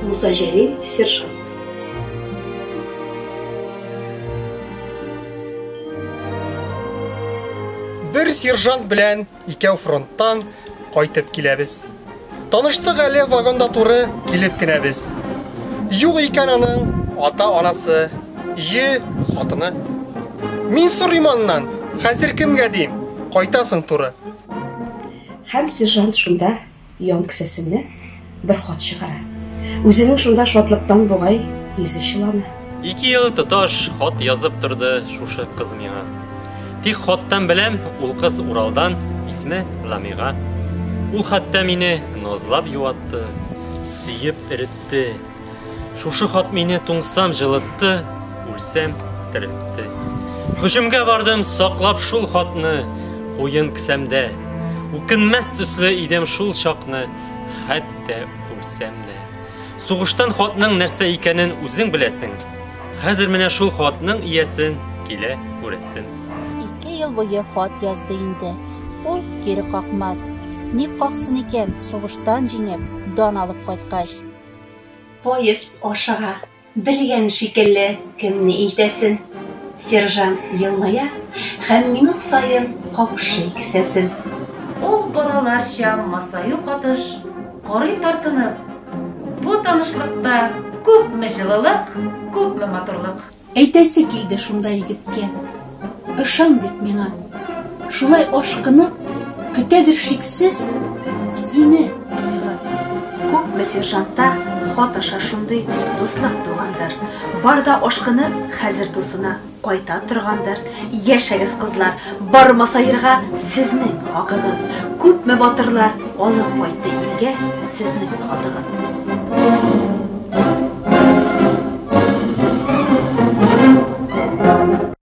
Муса Җәлил сержант Бер сержант белән Икәү фронттан кайтып киләбез. Таныштык әле вагонда туры килеп кенә без. Юк икән аның ата-анасы, йө, хатыны. Мин сорыйм аннан, хәзер кемгә дим, кайтасың туры. Һәм сержант шунда Ян кесәсеннән бер хат чыгара. Үзенең шунда шатлыктан бугай йөзе чылана. Ике ел тоташ хат язып торды шушы кыз миңа. Тик хаттан беләм, ул кыз Уралдан, исме Ламига. Ул хәтта мине назлап юатты, сөеп эретте. Шушы хат мине туңсам җылытты, үлсәм терелтте. Хөҗүмгә бардым, саклап шул хатны, куен кесәмдә. Үкенмәс төсле идем шул чакны, хәтта үлсәм дә. Сугыштан хатның нәрсә икәнен үзең беләсең. Хәзер менә шул хатның иясен килә күрәсем. Ике ел буе хат язды инде. Ул кире какмас. Ник каксын икән, сугыштан җиңеп, дан алып кайткач. Поезд ашыга. Белгән шикелле, кемне илтәсен. Сержант елмая һәм минут саен капшый кесәсен. Ул балаларча масаю катыш, карый тартынып. Бу танышлыкта күпме җылылык, күпме матурлык. Әйтәсе килде шунда егеткә, Ышан дип миңа. Шулай ашкынып, көтәдер шиксез Сине анда. Күпме сержантта хат аша шундый Дуслык тугандыр. Бар да ашкынып, хәзер дусына Кайта торгандыр. Яшәгез кызлар, бар масаерга сезнең хакыгыз. Күпме батырлар алып кайтты илгә сезнең хатыгыз.